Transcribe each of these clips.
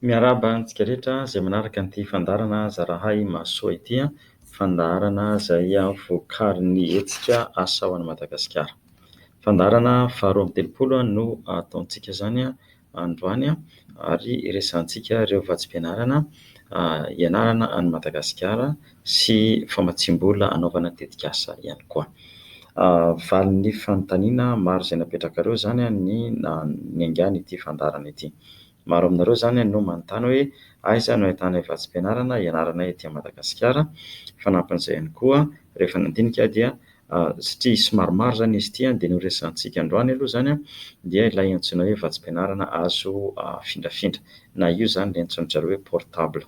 Miarahaba antsika rehetra izay manaraka an'ity fandaharana zarahay mahasoa ity, fandaharana izay vokarin'ny hetsika Asa ho an'i Madagasikara. Fandaharana faharoa amby telopolo no ataontsika izany. androany ary hiresahantsika ireo vatsim-pianarana hianarana an'i Madagasikara sy famatsiam-bola hanaovana tetikasa ihany koa. Valin'ny fanontaniana maro izay napetrakareo izany ny niaingàna ity fandaharana ity. Maro aminareo izany no manontany hoe aiza no ahitana vatsim-pianarana hianarana ety Madagasikara? Fanampin'izay ihany koa, rehefa nandinika dia satria somary maro izany izy ity dia ny ho resahantsika androany aloha izany dia ilay antsoina hoe vatsim-pianarana azo afindrafindra na io izany ilay antsoin-dry zareo hoe portable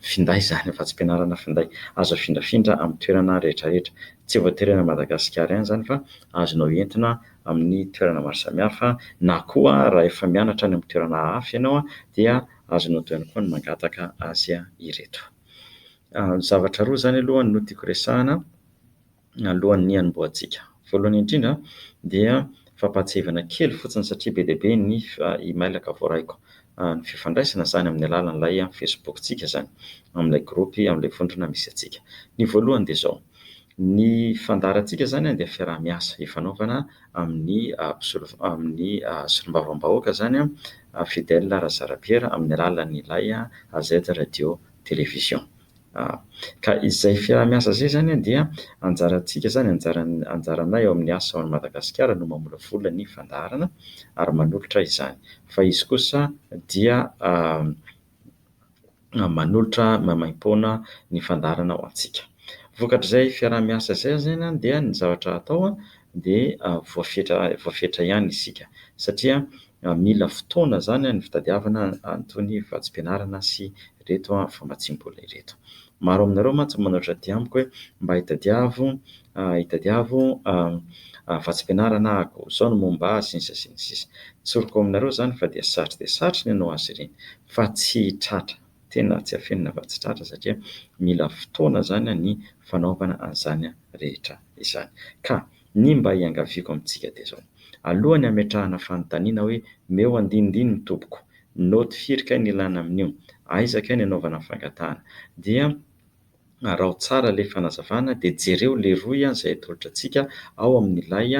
finday izany, vatsim-pianarana finday azo afindrafindra amin'ny toerana rehetrarehetra. Tsy voatery any Madagasikara ihany izany fa azonao entina amin'ny toerana maro samihafa na koa raha efa mianatra any amin'ny toerana hafa ianao dia azonao atao ihany koa ny mangataka azy ireto. Zavatra roa izany aloha no tiako resahana. alohan'ny hanombohantsika. Voalohany indrindra dia fampahatsiahivana kely fotsiny satria be dia be ny e-mailaka voaraiko. Ny fifandraisana izany amin'ny alalan'ilay Facebook-tsika izany, amin'ilay gropy, amin'ilay vondrona misy antsika. Ny voalohany dia izao, ny fandaharantsika izany dia fiaraha-miasa ifanaovana amin'ny mpisolo- amin'ny solombavambahoaka izany Fidèle Razarapiera amin'ny alalan'ilay AZ Radio Télévision. A, Ka izay fiaraha-miasa izay izany dia anjarantsika izany, anjaran'ny, anjaranay ao amin'ny asa ao Madagasikara no mamolavola ny fandaharana ary manolotra izany. Fa izy kosa dia a, manolotra maimaim-poana ny fandaharana ho antsika. Vokatr'izay fiaraha-miasa izay izany dia ny zavatra atao dia voafetra, voafetra ihany isika. Satria mila fotoana izany ny fitadiavana an'itony vatsim-pianarana sy ireto famatsiam-bola ireto. Maro aminareo mantsy no manoatra aty amiko hoe mba hitadiavo hitadiavo vatsim-pianarana ahako, izao no momba ahy sy ny sisa sy ny sisa. Tsoriko aminareo izany fa dia sarotra dia sarotra ny hanao azy ireny fa tsy tratra, tena tsy afenina fa tsy tratra satria mila fotoana izany ny fanaovana an'izany rehetra izany. Ka Ny mba iangaviako amintsika dia izao, alohan'ny hametrahana fanontaniana hoe meo andinindininy tompoko, note firy kay ny ilàna amin'io, aiza kay ny anaovana ny fangatahana, dia araho tsara ilay fanazavana dia jereo leroy izay atolotra antsika ao amin'ilay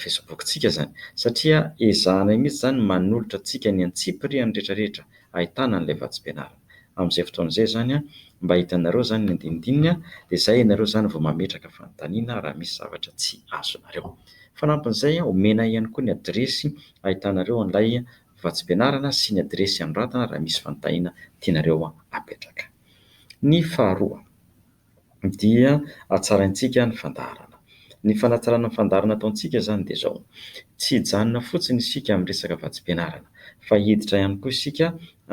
Facebook-tsika izany, satria ezahanay mihitsy izany ny manolotra antsika ny antsipiriany rehetra rehetra ahitana an'ilay vatsim-pianarana. Amin'izay fotoana izay izany, mba hitanareo izany ny andinindininy, dia izay ianareo izany vao mametraka fanontaniana raha misy zavatra tsy azonareo. Fanampin'izay, omena ihany koa ny adiresy ahitanareo an'ilay vatsim-pianarana sy ny adiresy anoratana raha misy fanontaniana tianareo apetraka. Ny faharoa. dia hatsaraintsika ny fandaharana. Ny fanatsarana ny fandaharana ataontsika izany dia izao, tsy hijanona fotsiny isika amin'ny resaka vatsim-pianarana fa hiditra ihany koa isika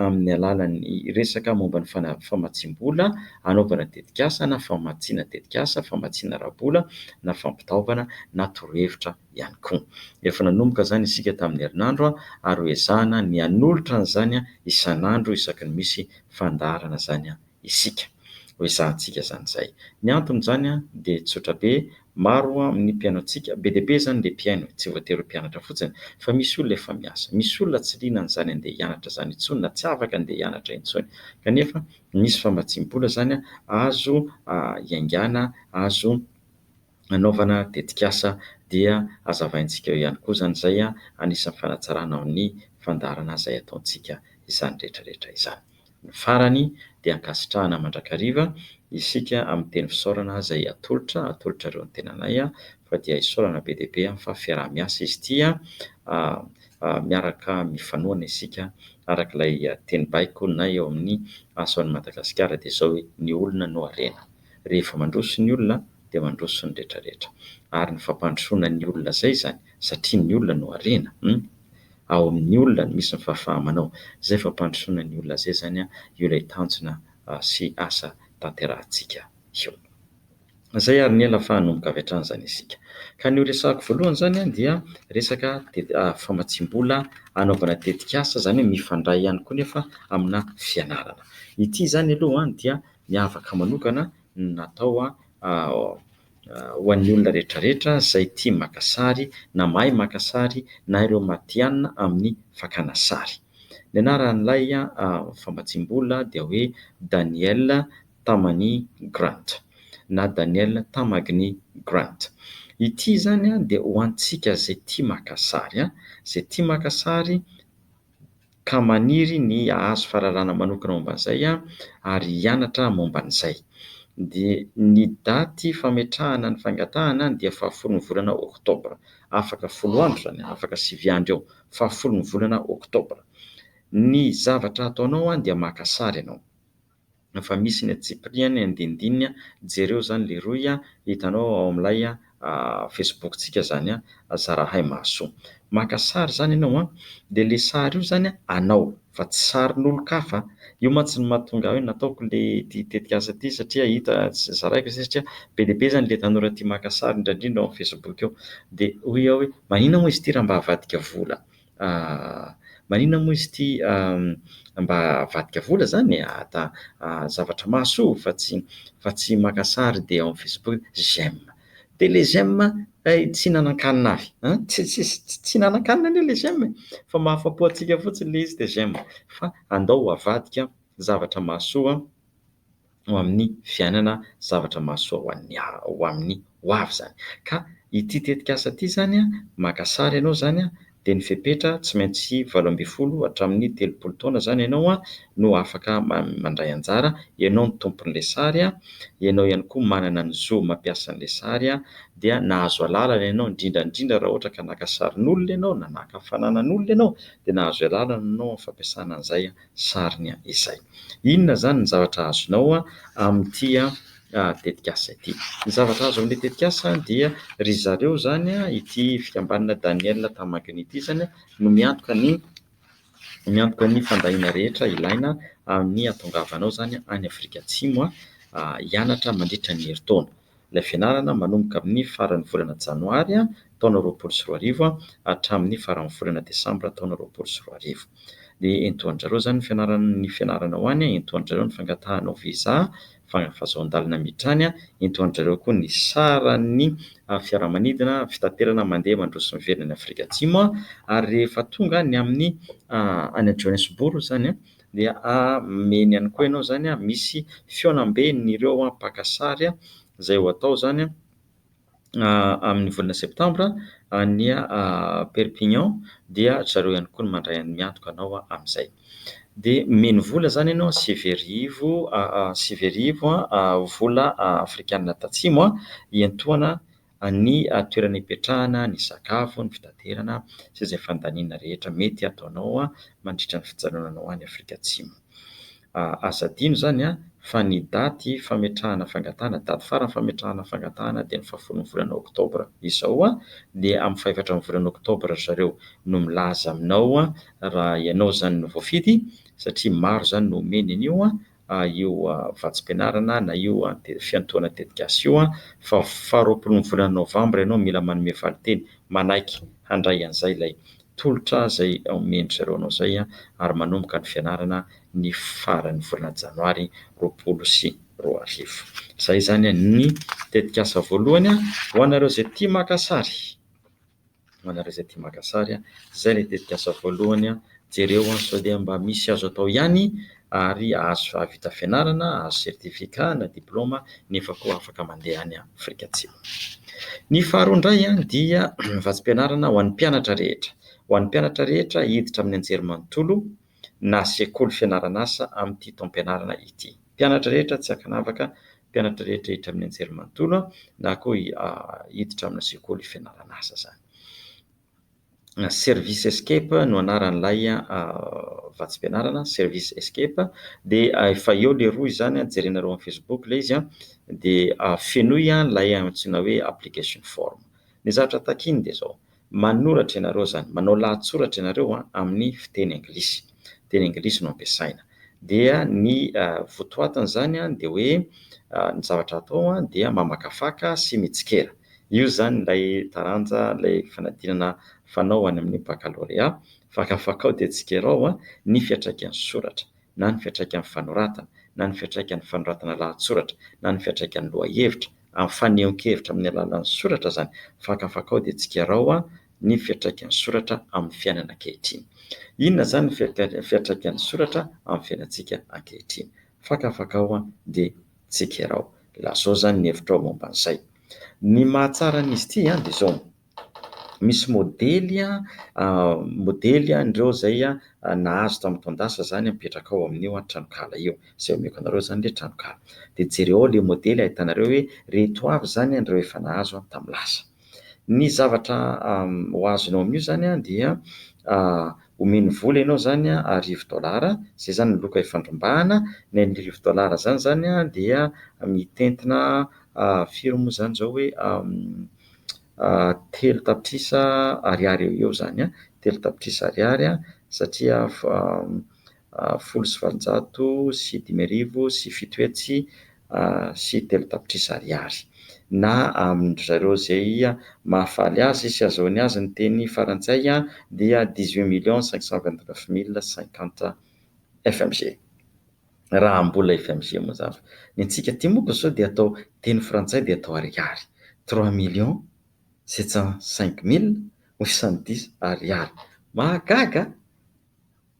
amin'ny alalan'ny resaka momba ny famatsiam-bola hanaovana tetikasa na famatsiana tetikasa, famatsiana ara-bola na fampitaovana na torohevitra ihany koa. Efa nanomboka izany isika tamin'ny herinandro ary ho ezahana ny hanolotra an'izany isan'andro isaky ny misy fandaharana izany. isika. Ho ezahantsika izany izay. Ny anton'izany dia tsotra be, maro amin'ny mpihainoantsika, be dia be izany ilay mpihaino, tsy voatery ho mpianatra fotsiny, fa misy olona efa miasa. Misy olona tsy liana an'izany handeha hianatra izany intsony na tsy afaka handeha hianatra intsony. Kanefa misy famatsiam-bola izany azo iaingàna, azo. nanaovana tetikasa dia hazavaintsika eo ihany koa izany izay anisan'ny fanatsarana ny fandaharana izay ataontsika izany rehetra rehetra izany. Ny farany dia ankasitrahana mandrakariva isika amin'ny teny fisaorana izay atolotra atolotrareo ny tenanay fa dia isaorana be dia be fa fiaraha-miasa izy ity miaraka mifanohana isika araka ilay teny baiko na eo amin'ny Ason'i Madagasikara dia izao hoe ny olona no harena. Rehefa mandroso ny olona dia mandroso ny rehetra rehetra. Ary ny fampandrosoana ny olona zay zany satria ny olona no harena hum. Ao amin'ny olona no misy ny fahafaha-manao. Zay fampandrosoana ny olona zay zany io ilay tanjona sy asa tanterahantsika io. Zay ary ny ela fa hanomboka avy hatrany zany isika. Ka ny ho resahako voalohany zany dia resaka famatsiam-bola hanaovana tetikasa zany hoe mifandray ihany koa nefa amina fianarana. Ity zany aloha dia miavaka manokana no natao ho an'ny olona rehetra rehetra izay tia maka sary na mahay maka sary na ireo matihanina amin'ny fakana sary. Ny anaran'ilay famatsiam-bola dia hoe Daniel Tamani Grant na Daniel Tamagny Grant. Ity izany dia ho antsika izay tia maka sary, izay tia maka sary. ka maniry ny hahazo fahalalana manokana momba an'izay ary hianatra momba an'izay. Dia ny daty fametrahana ny fangatahana dia fahafolo ny volana oktobra. Afaka folo andro izany, afaka sivy andro eo, fahafolo ny volana oktobra. Ny zavatra ataonao dia maka sary ianao. Fa misy ny antsipirihany andinindininy jereo zany leroy a, hitanao ao amin'ilay Facebook-tsika zany a, zarahay mahasoa. Maka sary zany ianao a, dia le sary io zany anao fa tsy sarin'olon-kafa. Io mantsy no mahatonga ahy hoe nataoko le ity tetikasa ity satria hita sy zaraiko izay satria be dia be zany le tanora tia maka sary indraindrindra ao amin'ny Facebook ao. Dia hoy aho hoe maninona moa izy ity raha mba avadika vola Ahh. Maninona moa izy ity ahh. Mba avadika vola zany e! Ada ahh zavatra mahasoa fa tsy fa tsy maka sary dia ao am facebook j'aime. Dia le j'aime hay tsy hihinanankanina avy an! Tsy hihinanankanina anie le j'aime e! Fa mahafapo antsika fotsiny le izy dia j'aime. Fa andao ho avadika zavatra mahasoa. ho amin'ny fiainana zavatra mahasoa ho an'ny ho amin'ny ho avy izany. Ka ity tetikasa ity izany, maka sary ianao izany dia ny fepetra tsy maintsy valo ambin'ny folo hatramin'ny telopolo taona izany ianao no afaka mandray anjara, ianao no tompon'ilay sary, ianao ihany koa manana ny zo mampiasa an'ilay sary dia nahazo alalana ianao indrindra indrindra raha ohatra ka naka sarin'olona ianao na naka fananan'olona ianao dia nahazo alalana ianao amin'ny fampiasana an'izay. sariny izay. Inona izany ny zavatra azonao amin'ity tetikasa ity? Ny zavatra azo amin'ilay tetikasa dia ry zareo izany, ity fikambanana Daniel Tamangy ity izany no miantoka ny miantoka ny fandahiana rehetra ilaina amin'ny hahatongavanao izany any Afrika Atsimo hianatra mandritra ny herintaona. Ilay fianarana manomboka amin'ny faran'ny volana janoary taona roapolo sy roa arivo hatramin'ny faran'ny volana desambra taona roapolo sy roa arivo. Dia entoho an-dry zareo izany ny fianarana ny fianarana ho any, entoho an-dry zareo ny fangatahanao visa, fahazon-dalana miditra any, entoho an-dry zareo koa ny saran'ny fiaramanidina, fitaterana mandeha mandroso miverina any Afrika Atsimo ary rehefa tonga any amin'ny any Johannesburg izany an, dia ameny ihany koa ianao izany misy fihaonamben' ireo mpaka sary izay ho atao izany amin' ny volana septambra any Perpignan dia ry zareo ihany koa no mandray ny miantoka anao amin' izay. Dia omeny vola izany ianao sivy arivo sivy arivo vola afrikana tatsimo hiantohana Any toerana ipetrahana, ny sakafo, ny fitaterana sy izay fandaniana rehetra mety hataonao mandritra ny fijanonanao any Afrika Atsimo. Aza adino izany fa ny daty fametrahana fangatahana, daty farany fametrahana fangatahana dia ny fahafolon'ny volana oktobra. Izao dia amin'ny fahefatra ny volana oktobra ry zareo no milaza aminao raha ianao izany no voafidy satria maro izany no omeny an'io io vatsim-pianarana na io fiantohana tetikasa io fa faharoapolon'ny volana novambra ianao mila manome valinteny manaiky handray an'izay ilay tolotra izay omen-dry zareo anao izay ary manomboka ny fianarana ny faran'ny volana janoary roapolo sy roa arivo. Izay izany ny tetikasa voalohany ho anareo izay tia maka sary. Manareo izay tia maka sary a! Izay ilay tetikasa voalohany a! Jereo a! Sao dia mba misy azo atao ihany ary ahazo hahavita fianarana, hahazo certificat na diploma nefa koa afaka mandeha any Afrika Atsimo. Ny faharoa indray a! Dia vatsim-pianarana ho an'ny mpianatra rehetra, ho an'ny mpianatra rehetra hiditra amin'ny anjerimanontolo na sekoly fianaran'asa amin'ity taom-pianarana ity. Mpianatra rehetra tsy ankanavaka mpianatra rehetra hiditra amin'ny anjerimanontolo na koa hiditra amina sekoly fianarana asa izany. Service Escape no anaran'ilay vatsim-pianarana, Service Escape. Dia efa eo ilay rohy izany, jerenareo amin'ny Facebook ilay izy. Dia fenoy ilay antsoina hoe application form. Ny zavatra takiny dia izao, Manoratra ianareo izany, manao lahatsoratra ianareo amin'ny fiteny anglisy, teny anglisy no ampiasaina. Dia ny votoatin'izany dia hoe ny zavatra atao dia mamakafaka sy mitsikera. Io izany ilay taranja, ilay fanadinana fanao any amin'ny baccalauréat, fakafakao dia tsikerao ny fiantraikan'ny soratra. na ny fiantraikan'ny fanoratana, na ny fiantraikan'ny fanoratana lahatsoratra, na ny fiantraikan'ny lohahevitra. Ampanehonkevitra amin'ny alalan'ny soratra izany fakafakao dia tsikarao ny fiantraikan'ny soratra amin'ny fiainana ankehitriny. Inona izany ny fiantraikan'ny soratra amin'ny fiainantsika ankehitriny? Fakafakao dia tsikarao. Lazao izany ny hevitrao momba an'izay. Ny mahatsara an'izy ity dia izao. Misy modely a, modely an'ireo izay nahazo tamin'ny taon-dasa izany mipetraka ao amin'io tranonkala io. Izay omeko anareo izany ilay tranonkala. Dia jereo ao ilay modely ahitanareo hoe ireto avy izany ireo efa nahazo tamin'ny lasa. Ny zavatra ho azonao amin'io izany dia omeny vola ianao izany arivo dolara, izay izany ny loka ifandrombahana. Ny arivo dolara izany izany dia mitentina firy moa izany izao hoe, telo tapitrisa ariary eo ho eo izany an, telo tapitrisa ariary satria folo sy valonjato sy dimy arivo sy fito hetsy sy telo tapitrisa ariary. Na amin-dry zareo izay mahafaly azy sy ahazoany azy ny teny farantsay dia dix-huit millions cinq cent vingt-neuf mille cinquante FMG. raha mbola FMG mazava. Ny antsika aty moa ko sao dia atao teny frantsay dia atao ariary. Trois millions sept cent cinq mille huit cent dix ariary. Mahagaga a!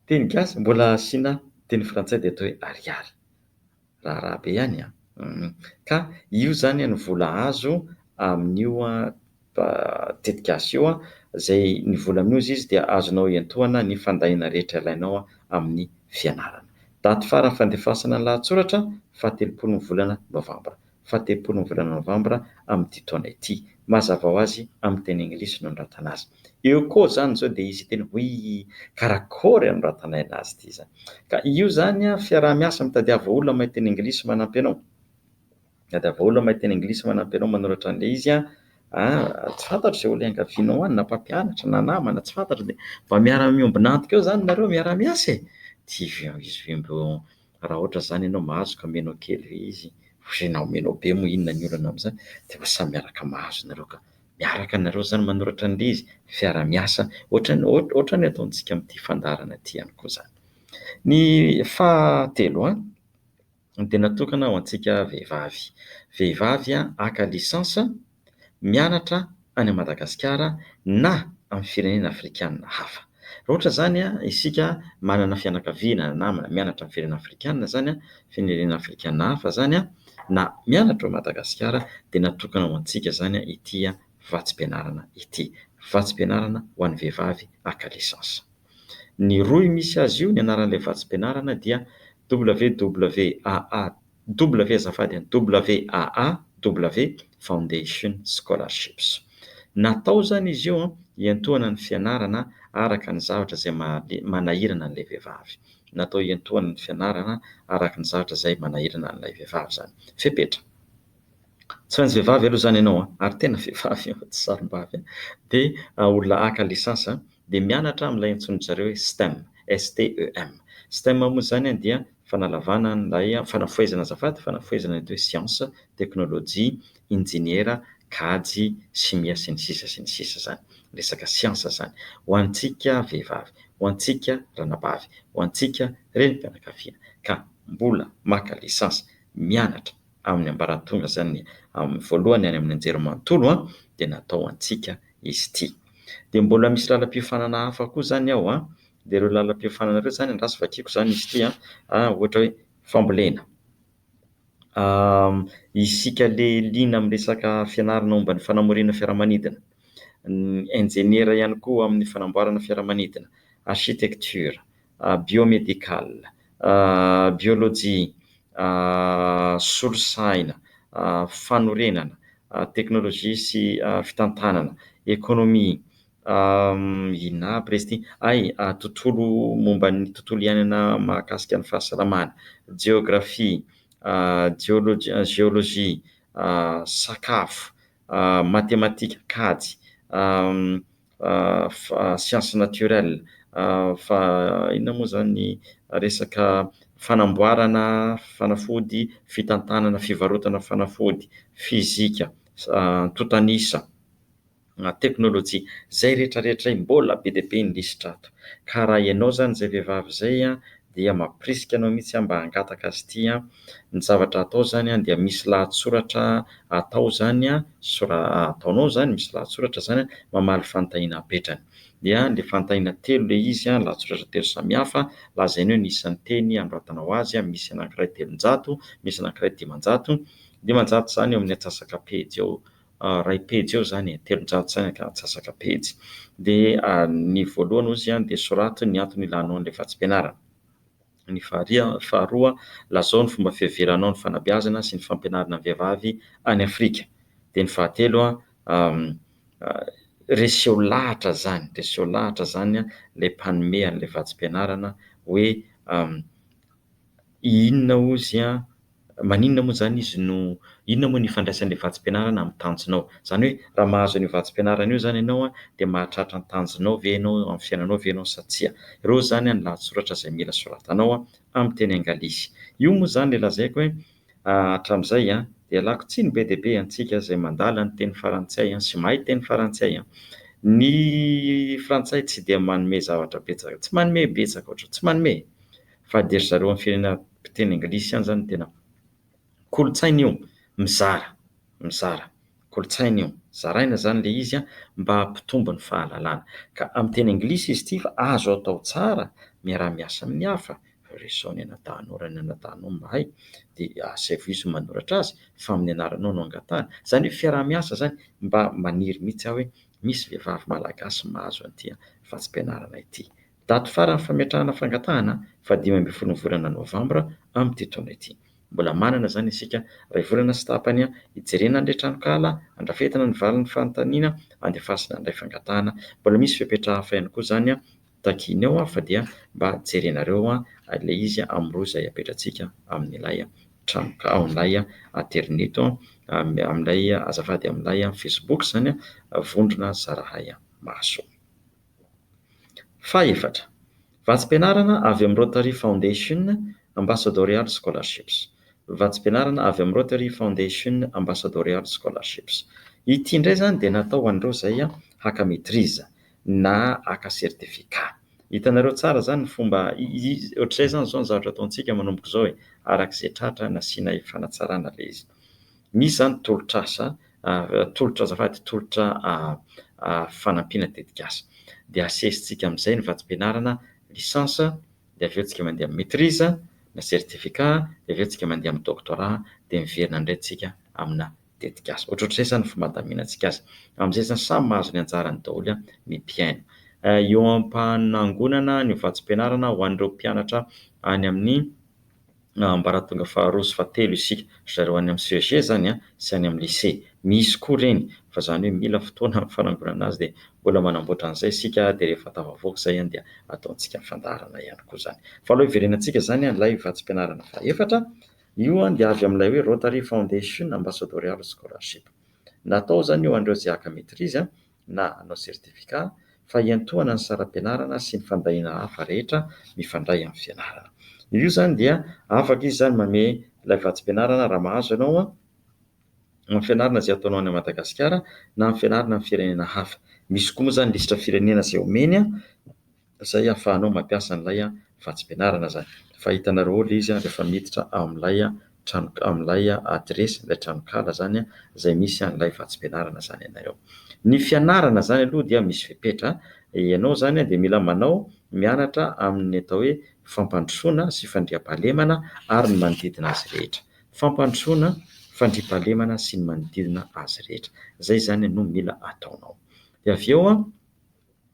Teny gasy mbola asiana teny frantsay dia atao hoe ariary. Raharaha be ihany a! Ka io izany no vola azo amin'io tetikasa io, izay ny vola amin'io izy dia azonao iantohana ny fandahiana rehetra ilainao amin'ny fianarana. Daty farany fandefasana ny lahatsoratra, fahatelopolo ny volana novambra. Fahatelopolo ny volana novambra amin'ity taona ity. Mazava ho azy amin'ny teny anglisy no anoratana azy. Eo koa izany izao dia hisy hiteny hoe karakôry anoratana aina azy ity izany. Ka io izany fiaraha-miasa mitadiava olona mahay teny anglisy manampy anao. Miady avaolo mahay teny anglisy manampy anao manoratra an'ilay izy aho a! Tsy fantatro izay olona iangavianao any na mpampianatra na namana tsy fantatro dia mba miara miombona antoko eo zany nareo miara miasa e! Dia izy raha ohatra izany ianao mahazo ka omenao kely ve izy? Ozy na omenao be moa inona ny olana amin'izany? Dia mba samy miaraka mahazo nareo ka! Miaraka nareo zany manoratra an'ilay izy, fiara miasa ohatra ny ohatra ny ataontsika amin'ity fandaharana ity ihany koa zany. Ny fahatelo a! no dia natokana ho antsika vehivavy. Vehivavy haka licence, mianatra any Madagasikara na amin'ny firenena afrikanina hafa. Raha ohatra izany isika manana fianakaviana na namana mianatra amin'ny firenena afrikanina izany, firenena afrikanina hafa izany, na mianatra ao Madagasikara dia natokana ho antsika izany ity vatsim-pianarana ity. Vatsim-pianarana ho an'ny vehivavy haka licence. Ny rohy misy azy io, ny anaran'ilay vatsim-pianarana dia WWAA, W azafady an, WAA, W Foundation Scholarships. Natao izany izy io hiantohana ny fianarana araka ny zavatra izay maha manahirana an'ilay vehivavy. Natao hiantohana ny fianarana araka ny zavatra izay manahirana an'ilay vehivavy izany. Fepetra. Tsy maintsy vehivavy aloha izany ianao an, ary tena vehivavy io, tsy sarimbavy an, dia olona haka lisansy an, dia mianatra amin'ilay antsoin-dry zareo hoe stem, STEM. Stem moa izany an dia fanalavana an'ilay, fanafohezana azafady, fanafohezana ny atao hoe siansa, teknolojia, injeniera, kajy, simia sy ny sisa sy ny sisa izany. Resaka siansa izany. Ho antsika vehivavy, ho antsika ranabavy, ho antsika renim-pianakaviana ka mbola maka lisansy, mianatra, amin'ny ambaratonga izany, amin'ny voalohany any amin'ny anjerimanontolo dia natao ho antsika izy ity. Dia mbola misy lalam-piofanana hafa koa izany ao an, dia ireo lalam-piofanana ireo izany angaha tsy vakiako izany izy ity an, ohatra hoe fambolena, isika ilay liana amin'ny resaka fianarana momba ny fanamoriana fiaramanidina, ny injeniera ihany koa amin'ny fanamboarana fiaramanidina, architecture, biomédical, biolojia, solosaina, fanorenana, teknolojia sy fitantanana, ekonomia, inona aby re izy ity ay, tontolo momba ny tontolo iainana mahakasika ny fahasalamana, jeografia, jeolojia, sakafo, matematika, kajy, sciences naturelles fa inona moa izany ny resaka fanamboarana fanafody, fitantanana, fivarotana fanafody, fizika, antontan'isa, teknolojia, izay rehetrarehetra izay mbola be dia be ny lisitra ato ka raha ianao izany izay vehivavy izay dia mampirisika anao mihitsy mba hangataka azy ity an! ny zavatra atao izany an dia misy lahatsoratra atao izany an, sora ataonao izany misy lahatsoratra izany an, mamaly fanontaniana apetrany, dia ilay fanontaniana telo ilay izy an, lahatsoratra telo samihafa, lazainao eo ny isan'ny teny anoratanao azy an, misy anankiray telonjato, misy anankiray dimanjato, dimanjato izany eo amin'ny atsasaka pejy eo iray pejy eo izany e, telonjato sy antsasaka pejy. Dia ny voalohany hoy izy dia soraty ny antony ilanao an'ilay vatsim-pianarana. Ny faharoa, lazao ny fomba fiheveranao ny fanabeazana sy ny fampianarana ny vehivavy any Afrika. Dia ny fahatelo, reseho lahatra izany, reseho lahatra izany ilay mpanome an'ilay vatsim-pianarana hoe. Inona hozy an, maninona moa izany izy no, inona moa no ifandraisan'ilay vatsim-pianarana amin'ny tanjonao? Izany hoe raha mahazo an'io vatsim-pianarana io izany ianao an, dia mahatratra ny tanjonao ve ianao eo amin'ny fiainanao ve ianao sa tsia? Ireo izany an ny lahatsoratra izay mila soratanao an, amin'ny teny angalisy. Io moa izany ilay lazaiko hoe hatramin'izay an, dia ialako tsiny be dia be antsika izay mandala ny teny farantsay an, sy mahay teny farantsay an. Ny frantsay tsy dia manome zavatra betsaka, tsy manome betsaka ohatr, tsy manome e! fa dia ry zareo amin'ny firenena mpiteny anglisy ihany izany no tena kolontsaina io mizara mizara kolontsaina io zaraina izany ilay izy an mba hampitombo ny fahalalana ka amin'ny teny anglisy izy ity fa azo atao tsara miaraha miasa amin'ny hafa resaho ny anadahinao raha ny anadahinao mahay dia asaivo izy no manoratra azy fa amin'ny anaranao no angatahany izany hoe fiaraha miasa izany mba maniry mihitsy aho hoe misy vehivavy malagasy mahazo an'ity an fa tsy mpianarana ity Daty faran'ny fametrahana fangatahana faha dimy ambin'ny folon'ny volana novambra amin'ity taona ity. Mbola manana izany isika iray volana sy tapany hijerena an'ilay tranonkala handrafetana ny valin'ny fanontaniana handefasina an'ilay fangatahana. Mbola misy fepetra hafa ihany koa izany takiana eo fa dia mba jerenareo ilay izy amin'ny rohy izay apetratsika amin'ilay tranonkala, ao amin'ilay aterineto, amin'ilay azafady amin'ilay facebook izany vondrona zarahay maso. Fahefatra, vatsim-pianarana avy amin'ny Rotary Foundation Ambassadorial Scholarships. Vatsim-pianarana avy amin'ny Rotary Foundation Ambassadorial Scholarships. Ity indray izany dia natao ho an'ireo izay haka maîtrise na haka certificat. Hitanareo tsara izany ny fomba, ohatr'izay izany izao ny zavatra ataontsika manomboka izao e, araka izay tratra nasianay fanatsarana ilay izy. Misy izany tolotr'asa ary tolotra azafady tolotra fanampiana tetikasa. Dia asesitsika amin'izay ny vatsim-pianarana licence, dia avy eo tsika mandeha amin'ny maitrise na certificat, dia avy eo tsika mandeha amin'ny doctorat, dia miverina indray tsika amina tetikasa. Ohatrohatr'izay izany ny fomba handaminantsika azy. Amin'izay izany samy mahazo ny anjarany daholo ny mpihaino. Eo am-panangonana ny vatsim-pianarana ho an'ireo mpianatra any amin'ny. na ambaratonga faharoa sy fahatelo isika ry zareo any amin'ny CEG izany an, sy any amin'ny lycée. Misy koa ireny fa izany hoe mila fotoana amin'ny fanangonana azy dia mbola manamboatra an'izay isika dia rehefa tafavoaka izay an dia ataontsika fandaharana ihany koa izany. Fa aleo hiverenantsika izany an ilay vatsim-pianarana fahefatra, io an dia avy amin'ilay hoe Rotary Foundation Ambassadorial Scholarship. Natao izany io ho an'ireo izay haka maitrise an, na hanao certificat fa hiantohana ny saram-pianarana sy ny fandahiana hafa rehetra mifandray amin'ny fianarana. Io izany dia afaka izy izany manome ilay vatsim-pianarana raha mahazo ianao amin'ny fianarana izay ataonao any Madagasikara na amin'ny fianarana amin'ny firenena hafa. Misy koa moa izany lisitra firenena izay omeny. izay ahafahanao mampiasa an'ilay vatsim-pianarana izany. Fa hitanareo ao ilay izy rehefa miditra ao amin'ilay trano amin'ilay adiresy ilay tranonkala izany izay misy an'ilay vatsim-pianarana izany ianareo. Ny fianarana izany aloha dia misy fepetra. Ianao izany dia mila manao mianatra amin'ny atao hoe fampandrosoana sy fandriampahalemana ary ny manodidina azy rehetra. Fampandrosoana, fandriampahalemana sy ny manodidina azy rehetra. Izay izany no mila ataonao. Dia avy eo an!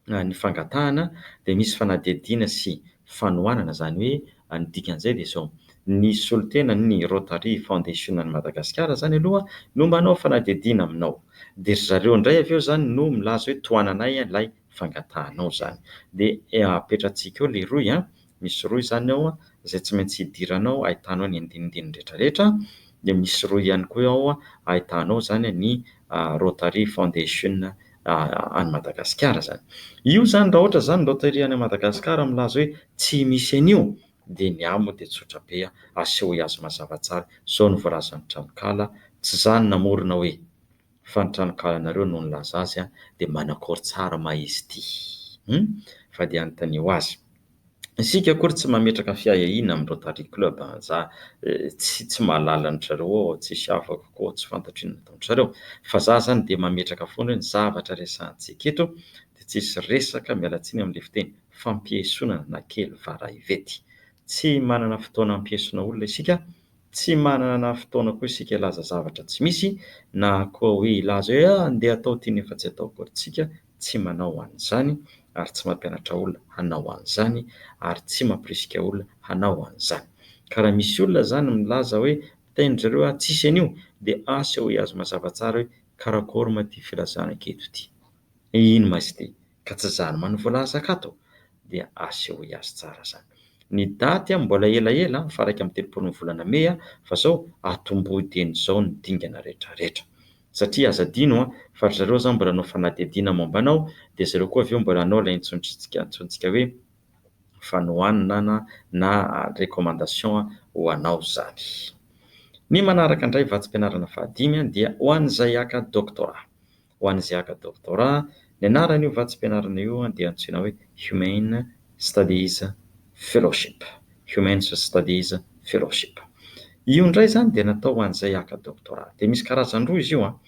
ny fangatahana dia misy fanadihadiana sy fanohanana izany hoe ny dikan'izay dia izao, ny solontenan' ny Rotary Foundation any Madagasikara izany aloha no manao fanadihadiana aminao dia ry zareo indray avy eo izany no milaza hoe tohananay ilay fangatahanao izany dia apetratsika eo leroy an! misy rohy izany ao izay tsy maintsy hidirana ao, ahitanao ny andinindininy rehetrarehetra, dia misy rohy ihany koa ao ahitanao izany ny Rotary Foundation any Madagasikara izany. Io izany raha ohatra izany ny Rotary any Madagasikara milaza hoe tsy misy an'io dia ny ahy moa dia tsotra be, asehoy azy mazava tsara izao no voalazan'ny tranonkala, tsy izaho no namorona hoe. fa ny tranonkalanareo no nilaza azy an dia manakôry tsara ma izy ity hum fa dia anontanio azy. Isika akory tsy mametraka fiahiahiana amin'ny Rotary Club an za tsy tsy mahalala an-dry zareo ô tsisy afako kô tsy fantatro inona ataon-dry zareo fa za zany dia mametraka foana hoe ny zavatra resahantsika eto dia tsisy resaka miala tsiny amin'ilay fiteny fampiesonana na kely vara ivety tsy manana fotoana hampiesona olona isika Tsy manana fotoana koa isika hilaza zavatra tsy misy na koa hoe hilaza hoe ah andeha atao ity nefa tsy atao akory. Tsika tsy manao an'izany ary tsy mampianatra olona hanao an'izany ary tsy mampirisika olona hanao an'izany. Ka raha misy olona izany milaza hoe mitainy zareo ah tsisy an'io dia asehoy azy mazava tsara hoe karakory ma ity filazana anketo ity? Inn ma izy ity? ka tsy zany man voalazaka ato dia asehoy azy tsara zany ny daty an mbola ela ela an fa iraika amby telopolo ny volana mey an fa zao atombohy dieny zao ny dingana rehetra rehetra satria aza adino an fa ry zareo zany mbola hanao fanadihadiana momba anao dia zareo koa avy eo mbola hanao ilay intsontsika antsointsika hoe fanohanana na na recommandation an ho anao zany ny manaraka indray vatsim-pianarana faha dimy an dia ho an'izay haka doctorat ho an'ny zeaka doctorat, ny anaran'io vatsim-pianarana io dia antsoina hoe Humane Studies Fellowship, Humans Studies Fellowship. Io indray izany dia natao ho an'izay haka doctorat. Dia misy karazany roa izy io an.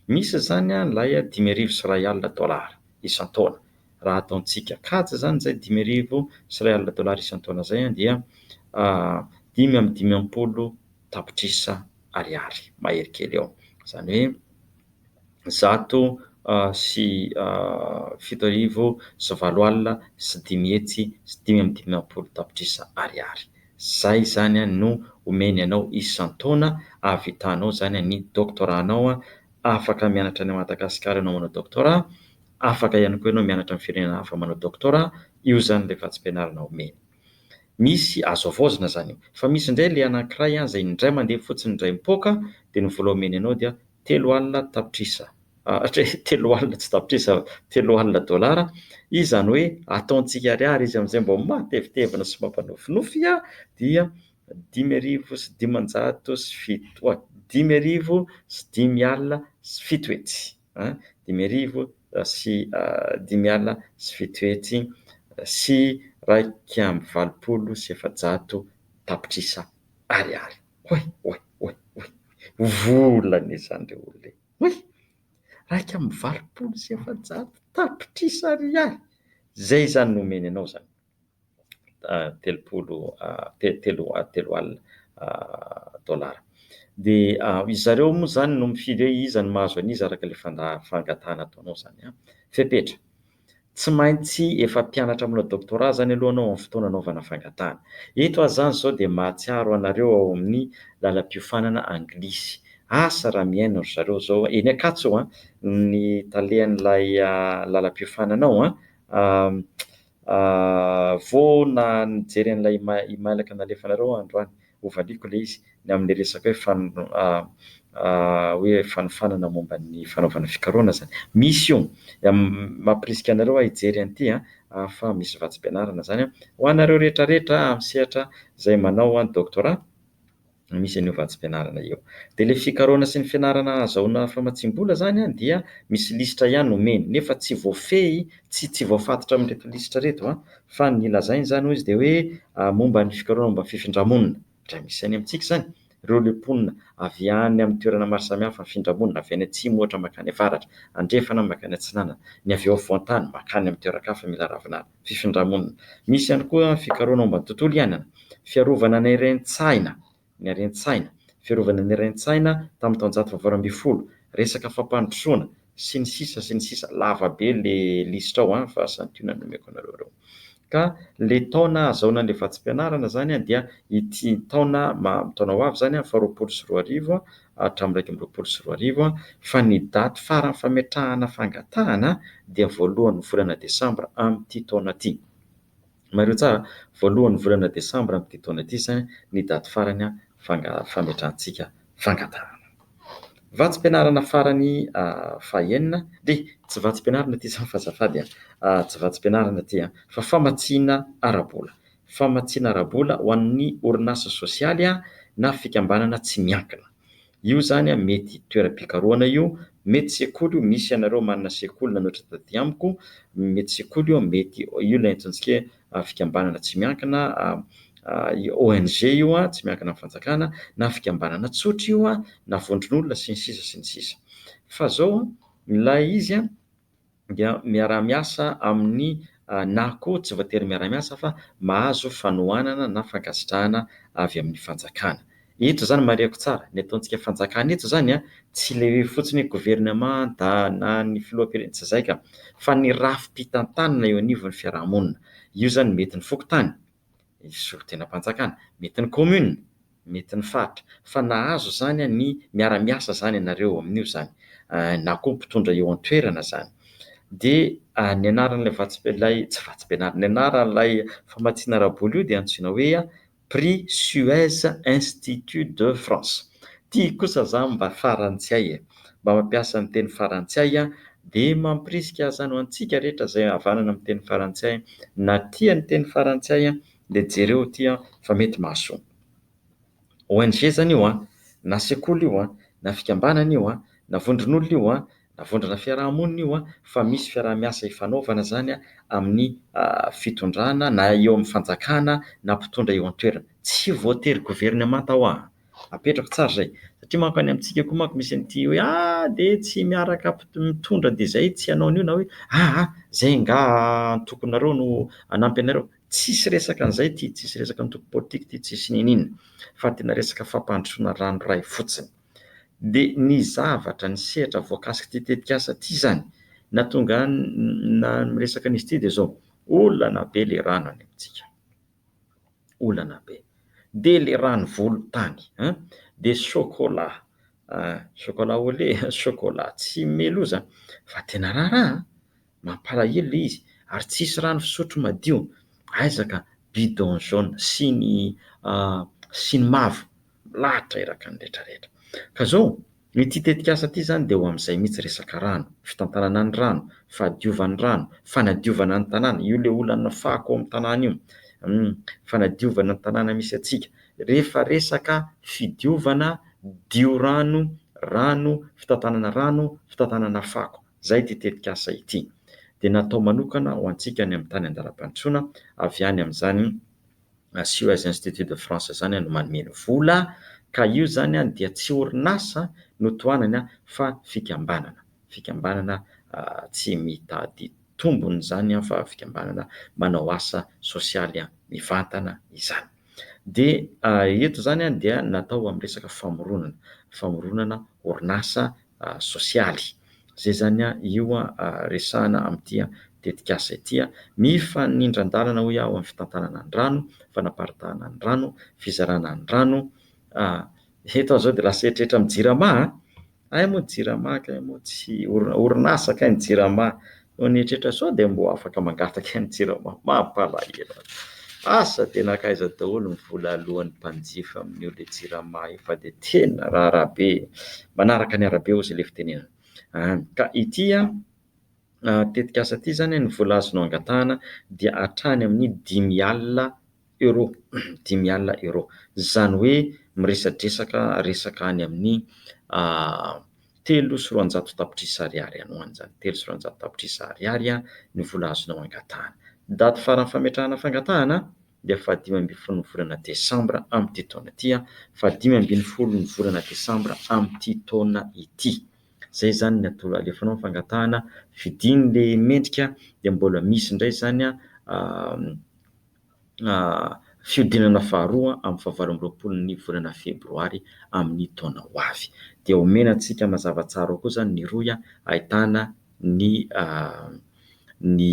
Misy izany an ilay dimy arivo sy iray alina dollars isan-taona. Raha ataontsika kajy izany izay dimy arivo sy iray alina dollars isan-taona izay an dia dimy amby dimampolo tapitrisa ariary mahery kely eo. Izany hoe zato sy fito arivo sy valo alina sy dimy hetsy sy dimy amby dimampolo tapitrisa ariary. Izay izany no omeny anao isan-taona hahavitanao izany ny doctorat anao. Afaka mianatra any Madagasikara ianao manao doctorat, afaka ihany koa ianao mianatra amin'ny firenena hafa manao doctorat, io izany ilay vatsim-pianarana omeny. Misy, azo havaozina izany io. Fa misy indray ilay anankiray izay indray mandeha fotsiny indray mipoaka dia ny vola omeny anao dia Telo alina tapitrisa, hatreto telo alina tsy tapitrisa, telo alina dolara, izy izany hoe ataontsika ariary izy amin'izay mba mahatevitevina sy mampanofinofy dia dimy arivo sy dimanjato sy fito a, dimy arivo sy dimy alina sy fito hetsy a, dimy arivo sy dimy alina sy fito hetsy sy iraika amby valopolo sy efajato tapitrisa ariary. Oay oay oay oay oay vola anie zany le olona e! Oay! Iraika amby valopolo sy efajato tapitrisa ariary zay zany no omeny anao zany telopolo telo telo alina dollars de ry zareo moa zany no mifidy hoe iza no mahazo an'iza araka le fangatahana ataonao zany an! Fepetra. Tsy maintsy efa mpianatra manao doctorat zany aloha anao amin'ny fotoana anaovana fangatahana. Eto aho zany zao dia mahatsiaro anareo ao amin'ny lalam-piofanana anglisy. Asa raha mihaino ry zareo zao, eny Ankatso an, ny talen'ilay lalam-piofanana ao an, vao na nijery an'ilay email-ka nalefanareo aho androany, Hovaliako ilay izy, ny amin'ny resaka hoe fan hoe fanofanana momba ny fanaovana fikarohana izany. Misy io. Mampirisika anareo aho hijery an'ity an, fa misy vatsim-pianarana izany an. Ho anareo rehetra rehetra amin'ny sehatra izay manao an doctorat, misy an'io vatsim-pianarana io. Dia ilay fikarohana sy ny fianarana hahazahoana famatsiam-bola izany an dia misy lisitra ihany omeny, nefa tsy voafehy, tsy tsy voafatotra amin'ireto lisitra ireto an, Fa ny lazainy izany hoy izy dia hoe momba ny fikarohana momba ny fifindra-monina. Indray misy any amintsika izany. Ireo le mponina avy any amin'ny toerana maro samihafa mifindra monina, avy any atsimo ohatra mankany avaratra, andrefana na mankany atsinanana, ny avy eo afovoan-tany mankany amin'ny toeran-kafa mila ravinala. Fifindra-monina. Misy ihany koa fikarohana momba ny tontolo iainana. Fiarovana ny rentsaina. ny haren-tsaina, fiarovana ny haren-tsaina tamin'ny taonjato fahavalo ambin'ny folo, resaka fampandrosoana, sy ny sisa sy ny sisa Lava be le lisitra ao an, fa santionany no omeko anareo ireo. Ka le taona hahazahoana an'le vatsim-pianarana zany an dia ity taona ma taona ho avy zany an, faha roapolo sy roa arivo an, hatramin'ny iraika amby roapolo sy roa arivo an, fa ny daty faran'ny fametrahana fangatahana dia voalohan'ny volana desambra amin'ity taona ty. Mariho tsara, voalohan'ny volana desambra amin'ity taona ity izany ny daty farany fametrahantsika fangatahana. Vatsim-pianarana farany fahenina, dia tsy vatsim-pianarana ity izany fa azafady a! tsy vatsim-pianarana ity a! fa famatsiana ara-bola. Famatsiana ara-bola ho an'ny orinasa sosialy na fikambanana tsy miankina. Io zany a mety toeram-pikarohana io, mety sekoly io, misy anareo manana sekoly nanohitra taty amiko, mety sekoly io, mety io ilay antsointsika hoe fikambanana tsy miankina, ONG io a, tsy miankina amin'ny fanjakana, na fikambanana tsotra io a, na vondron'olona sy ny sisa sy ny sisa. Fa zao a, ilay izy a, dia miara-miasa amin'ny na koa tsy voatery miara-miasa fa mahazo fanohanana na fankasitrahana avy amin'ny fanjakana. Eto izany marihako tsara, ny ataontsika fanjakana eto izany tsy ilay hoe fotsiny hoe governemanta na ny filoham-pirenena, tsy izay ka, fa ny rafi-pitantanana eo anivon'ny fiarahamonina. Io izany mety ny fokontany, solotenam-panjakana, mety ny commune, mety ny faritra, fa nahazo izany ny miara-miasa izany ianareo eo amin'io izany, na koa mpitondra eo an-toerana izany. Dia ny anaran'ilay vatsy, ilay tsy vatsim-pianarana, ny anaran'ilay famatsiana ara-bola io dia antsoina hoe Prix Suez Institut de France. Ity kosa izany mba faran'ny tsy hay e! mba mampiasa ny teny farantsay dia mampirisika azany ho antsika rehetra izay havanana amin'ny teny farantsay na tia ny teny farantsay dia jereo ity fa mety mahasoa. ONG izany io na sekoly io na fikambanana io na vondron'olona io na vondrona fiaraha-monina io fa misy fiaraha-miasa ifanaovana izany amin'ny fitondrana na eo amin'ny fanjakana na mpitondra eo an-toerana. Tsy voatery governemanta hoa. Apetrako tsara izay. Satria manko any amintsika koa manko misy an'ity hoe ah! dia tsy miaraka mitondra dia izay tsy hanao an'io na hoe ah ah! izay angaha antokonareo no hanampy anareo. Tsisy resaka an'izay ity, tsisy resaka antoko politika ity, tsisy niniana fa tena resaka fampandrosoana ranoray fotsiny. Dia ny zavatra, ny sehatra voakasik'ity tetikasa ity izany na tonga na miresaka an'izy ity dia izao, olana be ilay rano any amintsika. olana be. Dia le rano volotany an! Dia chocolat chocolat au lait, chocolat tsy meloza fa tena raharaha an! Mampalahelo le izy ary tsisy rano fisotro madio, aiza ka bidon jaune sy ny sy ny mavo milahatra iraka ny rehetra rehetra. Ka zao, ity tetikasa ity zany dia ho amin'izay mihitsy resaka rano, fitantanana ny rano, fahadiovan'ny rano, fanadiovana ny tanàna, io le olana fako ao amin'ny tanàna io, humm, fanadiovana ny tanàna misy antsika, rehefa resaka fidiovana, diorano, rano, fitantanana rano, fitantanana fako, zay ity tetikasa ity dia natao manokana ho antsika any amin'ny tany andalam-pandrosoana avy any amin'izany Asio as Institut de France zany no manome ny vola ka io zany dia tsy orinasa no tohanany fa fikambanana, fikambanana tsy mitady tombony izany fa fikambanana manao asa sosialy mivantana izany. Dia eto izany dia natao amin'ny resaka famoronana, famoronana orinasa sosialy. Izay izany io resahana amin'ity tetikasa ity. Mifanindran-dalana hoy aho ny fitantanana ny rano, fanaparitahana ny rano, fizarana ny rano. Eto aho izao dia lasa eritreritra amin'ny jirama a! Hay moa ny jirama kay moa tsy orinasa kay ny jirama no nieritreritra sao dia mbo afaka mangataka ny jirama. Mampalahelo ahy. Asa dia nankaiza daholo ny vola aloan'ny mpanjifa amin'io le jirama io fa dia tena raha arabe manaraka ny arabe ozy le fitenenana an! Ka ity tetikasa ity zany ny vola azonao angatahana dia hatrany amin'ny dimy alina Euros, dimy alina euros. Izany hoe miresadresaka resaka any amin'ny telo sy roanjato tapitrisa ariary any ho any izany, telo sy roanjato tapitrisa ariary ny vola azonao hangatahana. Daty farany fametrahana fangatahana dia fahadimy ambin'ny folon'ny volana desambra amin'ity taona ity, fahadimy ambin'ny folon'ny volana desambra amin'ity taona ity. Izay izany ny atoro alefanao ny fangatahana, fidiny ilay mendrika dia mbola misy indray izany fihodinana faharoa amin'ny fahavalo amby roapolo ny volana febroary amin'ny taona ho avy. Dia omena antsika mazava tsara ao koa izany ny rohy ahitana ny ny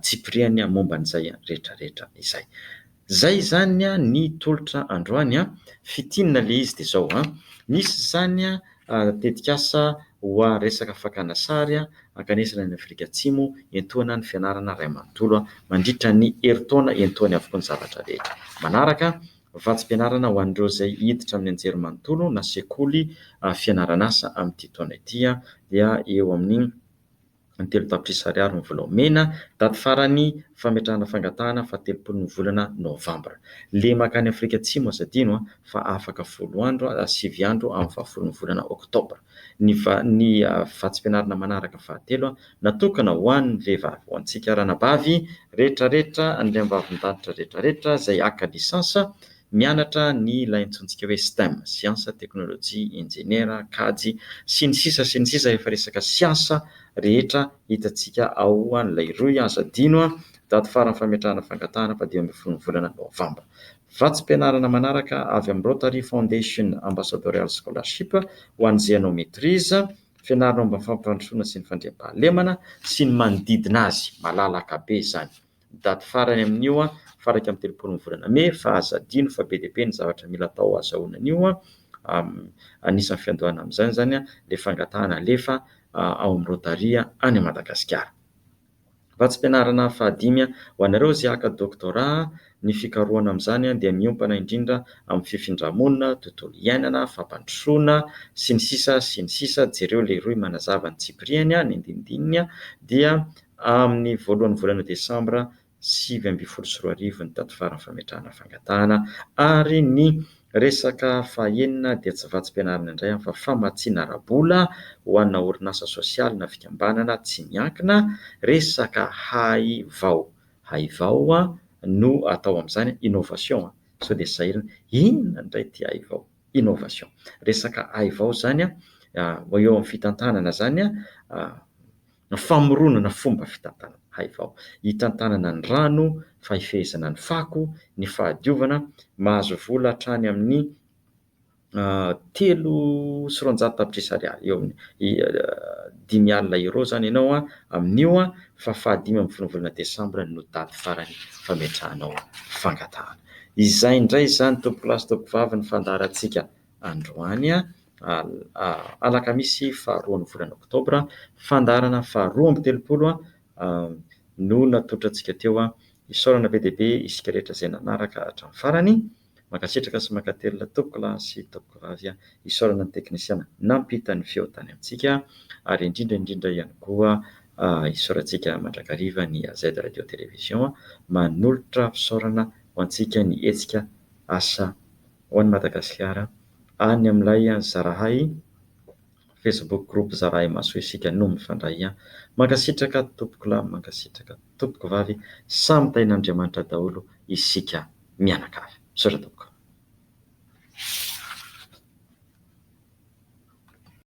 tsipiriany momba an'izay rehetrarehetra izay. Izay izany ny tolotra androany. Fintinina ilay izy dia izao, misy izany. tetikasa hoa resaka fakana sary hankanesana any Afrika Atsimo hiantohana ny fianarana iray manontolo mandritra ny herintaona hiantohany avokoa ny zavatra rehetra. Manaraka, vatsim-pianarana ho an'ireo izay hiditra amin'ny anjerimanontolo na sekoly fianaran'asa amin'ity taona ity dia eo amin'ny ny telo tapitrisa ariary ny vola omena, daty farany fametrahana fangatahana fahatelopolo ny volana novambra. Lemaka any Afrika Atsimo aza adino an, fa afaka folo andro, sivy andro amin'ny fahafolo ny volana oktobra. Ny va, ny vatsim-pianarana manaraka fahatelo natokana ho an'ny vehivavy, ho antsika ranabavy retraretra, an'ireo ambavin-danitra retraretra izay haka lisansa, Mianatra ny ilay antsointsika hoe stem, siansa, teknolojia, injeniera, kajy, sy ny sisa sy ny sisa rehefa resaka siansa rehetra hitantsika ao an'ilay rohy aza adino an! daty faran'ny fametrahana fangatahana fa dimy ambin'ny folo ny volana novamba. Vatsim-pianarana manaraka avy amin'ny Rotary Foundation Ambassadorial Scholarship ho an'ny Zéanométrise, fianarana momba ny fampandrosoana sy ny fandriampahalemana sy ny manodidina azy, malalaka be izany. Daty farany amin'io faha iraika amby telopolo ny volana mey fa aza adino fa be dia be ny zavatra mila atao ahazahoana an'io. Anisan'ny fiandohana amin'izany izany ilay fangatahana alefa ao amin'ny Rotary any Madagasikara. Vatsim-pianarana fahadimy ho anareo izay haka doctorat, ny fikarohana amin'izany dia miompana indrindra amin'ny fifindra-monina, tontolo iainana, fampandrosoana, sy ny sisa sy ny sisa jereo ilay rohy manazava ny tsipiriany, ny andinindininy dia Amin'ny voalohan'ny volana desambra sivy ambin'ny folo sy roa arivo ny daty faran'ny fametrahana fangatahana ary ny resaka fahenina dia tsy vatsim-pianarana indray aho fa famatsiana ara-bola ho ana orinasa sosialy na fikambanana tsy miankina, resaka hay vao, hay vao no atao amin'izany, innovation an, sao dia sahirana, inona indray ity hay vao, innovation, resaka hay vao izany an, eo amin'ny fitantanana izany an, Famoronana fomba fitantanana haivao hitantanana ny rano, fahifehezana ny fako, ny fahadiovana, mahazo vola hatrany amin'ny telo sy roanjato tapitrisa ariary, eo amin'ny dimy alina euros izany ianao amin'io fa fahadimy ambin'ny folo volana desambra no daty farany fametrahanao fangatahana. Izay indray izany tompokolahy sy tompokovavy ny fandaharantsika Androany, alakamisy faharoan'ny volana oktobra, fandaharana faharoa amby telopolo no natolotra antsika teo. Isaorana be dia be isika rehetra izay nanaraka hatramin'ny farany. Mankasitraka sy mankatelina tompoko lahy sy tompoko vavy. Isaorana ny teknisiana nampita ny feo tany amintsika. Ary indrindra indrindra ihany koa isaorantsika mandrakariva ny AZ Radio Télévision manolotra fisaorana ho antsika ny hetsika asa ho an'i Madagasikara. Any amin'ilay Zarahay, Facebook group Zarahay Mahasoa Isika no mifandray. Mankasitraka tompokolahy, mankasitraka tompokovavy, samy tahin'Andriamanitra daholo isika mianakavy. Misaotra tompoko.